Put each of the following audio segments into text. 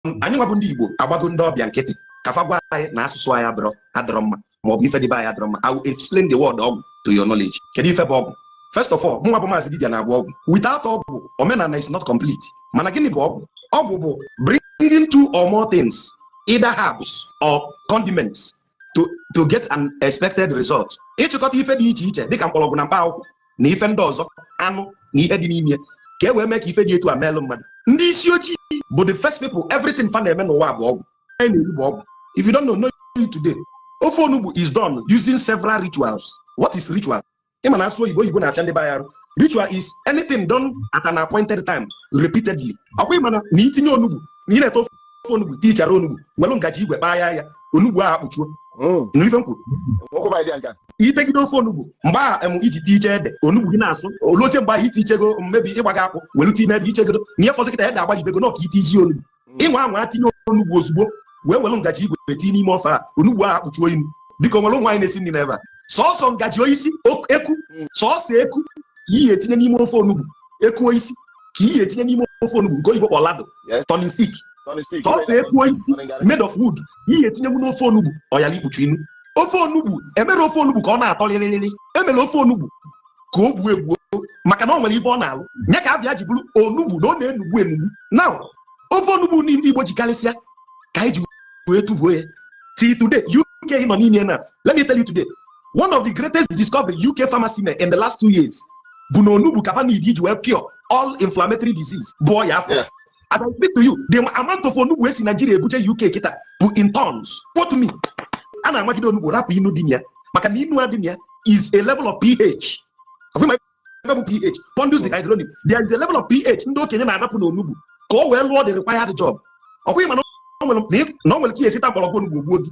anyị nwa bụ ndị Igbo agbago ndị ọbịa nkịtị ka fa gwa anyị na asụsụ anyị adọrọ adọrọ mma ma ọ bụ ife dị be anyị adọrọ mma I will explain the word ọgwụ to your knowledge kedu ife bụ ọgwụ first of all mụ nwa bụ maazị dibịa na-agwọ ọgwụ without ọgwụ omenala is not complete mana gịnị bụ ọgwụ ọgwụ bụ bringing two or more things either herbs or condiments to get an expected result ịchịkọta ife dị iche iche dịka mkpọrọgwụ na mkpa akwụkwọ na ife ndị ọzọ anụ na ihe dị n'ime ka e wee mee ka ife dị etu a meelụ mmadụ ndị isi ojii bụ the first people everything fa na-eme n'ụwa bụ ọgwụ a na-eri bụ ọgwụ if you don't know know it today ofe onugbu is done using several rituals what is ritual ị ma na a sụọ oyibo oyibo na-afịa ndị be anyị arụ ritual is anything done at an appointed time repeatedly ọkwa ị ma na itinye onugbu na ị na-ete ofe onugbu tichara onugbu were ngaji igwe kpaa ya onugbu ahụ akpụchuo hmm. nụrụ ife m kwuru itegide ofe onugbu mgbe a em iji ti iche ede onugbu gị na-asụ olu oche mgbe ahụ iti ichego mmebi ịgbaga akwụ were tinye ede ichegodo na ihe fọzi kịta ede agbajibego na ọ ka itizi onugbu hmm. ị nwaa anwa tinye onugbu ozugbo wee were ngaji igwe tinye n'ime ofe a onugbu ahụ akpụchuo inu biko nwere nwaanyị na-esi nri n'ebe a sọsọ ngaji oisi eku hmm. sọsọ eku ka ihe etinye n'ime ofe onugbu eku oisi ka ihe etinye n'ime ofe onugbu nke oyibo kpọ ladle turning stick sọsọ eku oisi made of wood ihe etinyewu n'ofe onugbu ọ yara ikpuchu inu ofe onugbu emere ofe onugbu ka ọ na-atọ rịrịrịrị emere ofe onugbu ka o gbuo egbuo maka na o nwere ibe ọ na-alụ nya ka a bịa ji bụrụ onugbu na ọ na-enugbu enugbu na ofe onugbu ndị Igbo ji karịsịa ka anyị ji wee tụbuo ya till today UK nọ n'ime na let me tell you today one of the greatest discovery UK pharmacy made in the last two years bụ na onugbu ka fa need iji wee cure all inflammatory disease bụ ọya afọ as I speak to you the amount of onugbu e si Nigeria ebuje UK kịta bụ in tons quote me a na-amagide onugbu rapụ inu dị na ya maka na inu adị na ya is a level of pH ebe bụ pH pondus dehydronium there is a level of pH ndị okenye na-arapụ n'onugbu ka o wee lụọ the required job ọkwa ị ma na o nwere ka i si ta mgbọrọgwụ onugbu o gbuo gị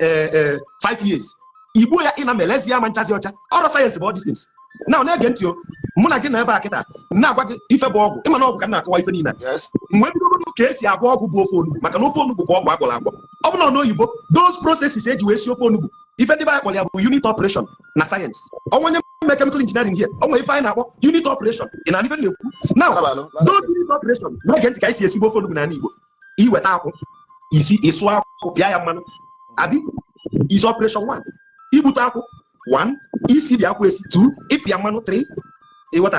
eh, eh, five years i gbuo ya ịna mere ezi ya ma nchazi ọcha ọrụ sayensị bụ all these things na na-ege ntị ọ mụ na gị nọ ebe a kịta na-agwa gị ife bụ ọgwụ ị ma na ọgwụ ka m na-akọwa ife niile Yes. mgbe bidogodo ka esi agwọ ọgwụ bụ ofe onugbu maka na ofe onugbu bụ ọgwụ agwọrọ agwọ ọ bụrụ na n'oyibo those processes e ji wee si ofe onugbu ife ndị be anyị kpọrọ ya bụ unit operation na sayensị o nwere onye mere chemical engineering here o nwere ife anyị na-akpọ unit operation ị ma ife m na-ekwu now Labanụ, labanụ. those unit operation na-ege ntị ka anyị si esi ofe onugbu n'ala igbo iweta akwụ isi ịsụ akwụ pịa ya mmanụ abi is operation one igbute akwụ one isi dị akwụ esi two ịpịa mmanụ three ị ghọta